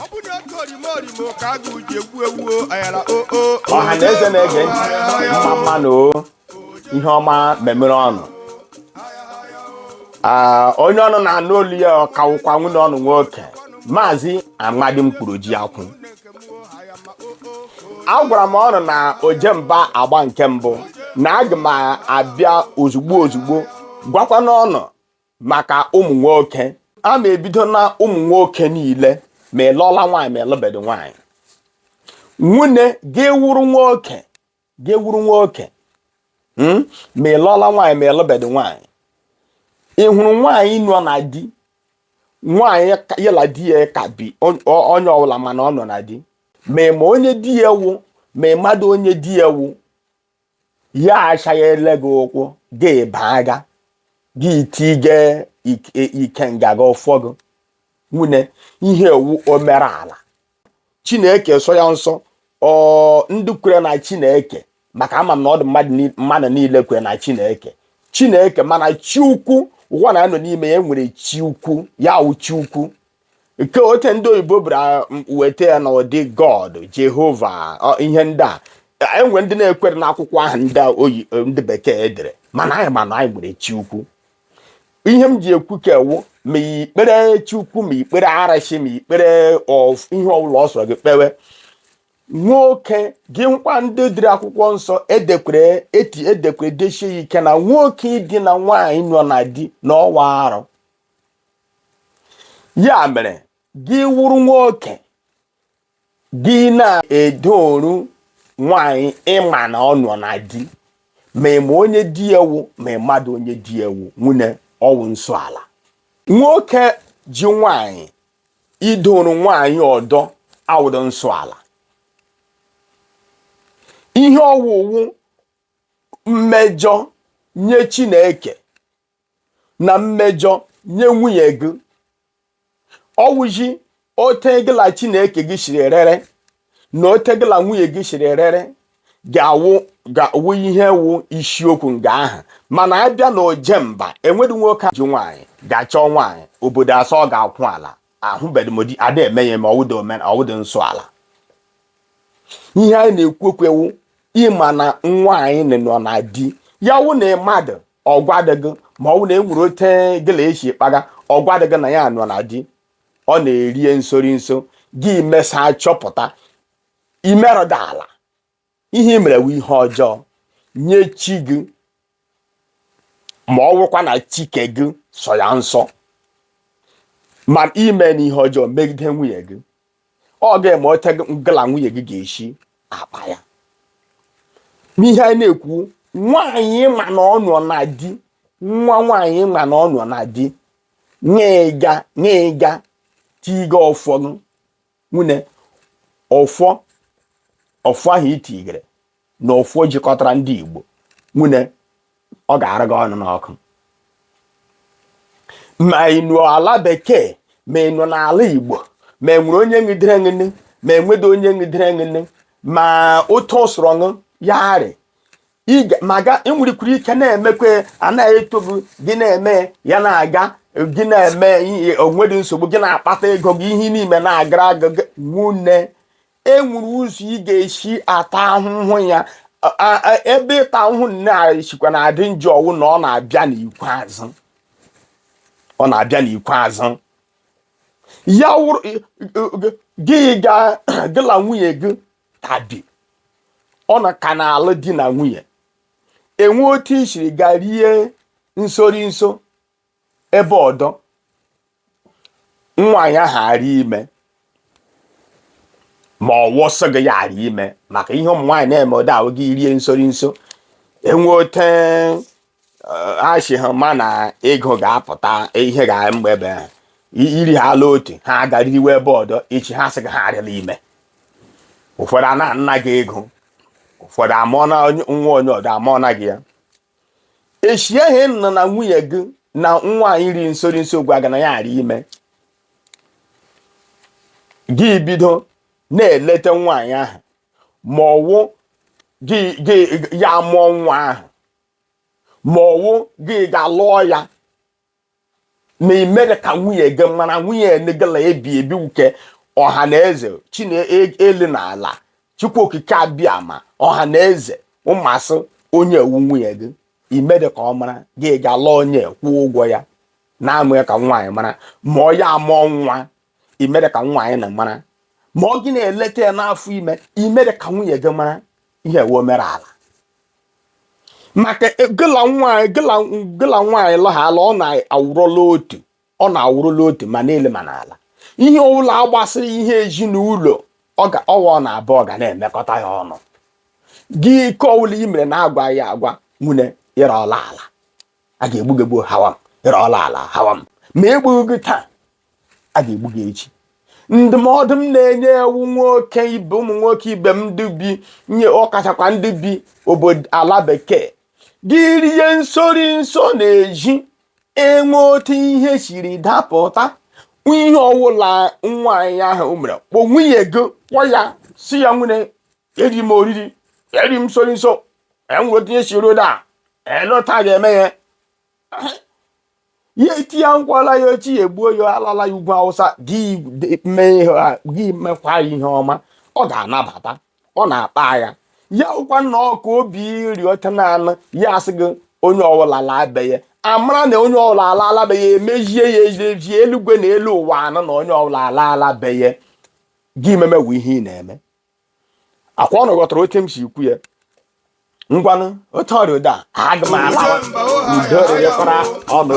ọ bụ na oke orimo orimo ka a ga-uji egwu egwu ayara oo ọha na eze na-ege ntị mma mma nụ o ihe ọma memere ụnụ Ah, onye ụnụ na-anụ olu ya ọ ka wụkwa nwunne ụnụ nwoke maazị amadi mkpụrụ ji akwụ agwara m ụnụ na ojemba agba nke mbụ na aga m abịa ozugbo ozugbo gwakwanụ ụnụ maka ụmụ nwoke a ma ebido na ụmụ nwoke niile ma ịlụọla nwaanyị ma ịlụbedị nwaanyị nwunne gị wụrụ nwoke gị wụrụ nwoke hmm? ma ịlụọla nwaanyị ma ịlụbedị nwaanyị ị hụrụ nwaanyị nọ na di nwaanyị ya na di ya ka bi onye ọbụla mana ọ nọ na di ma ịma onye di ya wụ ma ịmadụ onye di ya wụ ya asaghele gị ụkwụ gị baa ga gị tige ike nga gị ọfọ gị nwunne ihe ọ wụ omerụ ala chineke sọ ya nsọ ọ ndị kwere na chineke maka ama m na ọ dị mmadụ ni- mmadụ niile kwere na chineke chineke mana chi ukwu ụwa na anọ n'ime ya nwere chi ukwu ya wụ chi ukwu nke ote ndị oyibo bịara weta ya na ụdị god jehova ọ, ihe ndị a e nwere ndị na-ekwere n'akwụkwọ ahụ ndị a oyi ndị bekee dere mana anyị ma na anyị nwere chi ukwu ihe m ji ekwu nke a wụ ma ikpere chukwu ma ikpere arụshị ma ikpere of- ihe ọbụla ọ sọrọ gị kpewe nwoke gị hụkwa ndị dere akwụkwọ nsọ edekwere eti edekwere desie ya ike na nwoke idina nwaanyị nọ na di na ọ wụ arụ ya mere gị wụrụ nwoke gị na-edoru nwanyị ịma na ọ nọ na di ma ịma onye di ya wụ ma ịmadụ onye di ya wụ nwunne ọ wụ nsọ ala nwoke ji nwanyị idoru nwanyị ọdọ awụdụ nsọ ala ihe ọ wụ wụ mmejọ nye Chineke na mmejọ nye nwunye gị ọ wụji ote gị na chineke gị siri erere na ote gị na nwunye gị siri erere ga-awụ ga-awụ ihe wụ isiokwu nga ahụ mana abịa na oje mba enwedị nwoke ji nwaanyị ga-achọ nwaanyị obodo asị ọ ga-akwa ala ahụbedị m di ada eme ya ma ọ wụdị omen ọ wụdị nsọ ala ihe anyị na-ekwu okwu ya wụ ịma na nwaanyị nọ na di ya wụ na mmadụ ọ gwadị gị ma ọ wụ na e nwere ote gị la ya shi kpaga ọ gwadị gị na ya nọ na di ọ na-erie nsori nso gị mesaa chọpụta i merụdị ala ihe i mere wụ ihe ọjọọ nye chi gị ma ọ wụkwa na chi ke gị sọ ya nsọ ma i meena ihe ọjọọ megide nwunye gị ọ gị ma ote gị la nwunye gị ga-esi akpa ya n'ihe anyị na-ekwu nwaanyị ma na ọ nọ na di nwa nwaanyị ma na ọ nọ na di ị ga tiga ọfọ nwanne ọfọ ọfọ ahụ i tigere na ọfọ jikọtara ndị Igbo nwanne ọ ga-ara gị ọnụ n'ọkụ ma ị nọ ala bekee ma ị nọ n'ala Igbo ma enwere onye ngidere ngịnị ma enwedị onye ngidere ngịnị ma otu ọ sọrọ ya rị i nwerekwuru ike na-emekwa anaghị eto gị gị na-eme ya na-aga gị na-eme o nwedị nsogbu gị na-akpata ego gị ihe niime na-agara aga nwanne enwere ụzọ ị ga-esi ata ahụhụ ya ebe ịta ahụhụ na-esikwa na-adị njọ wụ na ọ na-abịa n'ikpeazụ ya wụrụ gị gị la nwunye gị ka bi unu ka na-alụ di na nwunye enwe otu i siri gaa rie nsori nso ebe ọdọ nwaanyị ahụ arị ime ma ọ wụ sị gị ya arị ime maka ihe ụmụ nwaanyị na-eme ụda ahụ gị rie nsori nso enwe ote achị ha ma na ego ga-apụta ihe ga mgbe ebe ha iri ha ala otu ha agarịwe ebe ọdọ echi ha sị gị ha arịla ime ụfọdụ anaana gị ego ụfọdụ amụọna nwa onye ọdọ amụọna gị ya echie ihe nọ na nwunye gị na nwaanyị rie nsori nso gwa gị na ya arị ime gị bido na-eleta nwaanyị ahụ ma ọ wụ ya amụọ nwa ahụ ma ọ wụ gị gaa lụọ ya ma i medị ka nwunye gị mara nwunye na gị la-ebi ebi nke ọha na eze chi n'elu na ala chukwu okike abịama ọha na eze ma sị onye a wụ nwunye gị i medị ka ọ mara gị gaa lụọ onye kwụọ ụgwọ ya na-emeghị ka nwaanyị mara ma ọ ya amụọ nwa i mere ka nwaanyị na mara ma ọ gị na-eleta ya n'afọ ime i mere ka nwunye gị mara ihe wee mere ala maka gị la nwaanyị lụhala unu awụrụla otu unu awụrụla otu ma n'elu ma n'ala ihe ọbụla gbasịrị ihe ezinụlọ ọ wụ unu abụọ ga na-emekọta ya ọnụ gị nke ọbụla i mere na-agwaghị agwa nwunye ị rụọla ala a ga-egbu gị egbu hawa m ị rụọla ala hawa m ma egbughị gị taa a ga-egbu gị echi ndụmọdụ m na-enye ụmụ nwoke ibe ụmụ nwoke ibe m ndị be anyị ọkachakwa ndị bi obodo ala bekee gị rie nsori nso n'ezi e nwee otu ihe siri dapụta ihe ọwụla nwaanyị ahụ mere kpọọ nwunye gị kpọọ ya sị ya nwunye eri m oriri eri m nsori nso e nwere otu ihe siri daa elee otu a ga-eme ya ya etinye nkwala ya ochi ya egbuo ya alala ya ugwu awụsa gị mekwa ihe ọma ọ ga-anabata ọ na-akpa ya ya wụkwanụ ọka obi iri ọcha naanị ya asị gị onye ọbụla laa be ya a mara na onye ọbụla alaala be ya emezie ya ezie eluigwe na elu ụwa anụ na onye ọbụla alaala be ya gị memewe ihe ị na-eme akwa unu ghọtara otu m si ekwu ya ngwanụ otu ọ rị ụda aga m alawa udo rịrịkwara unu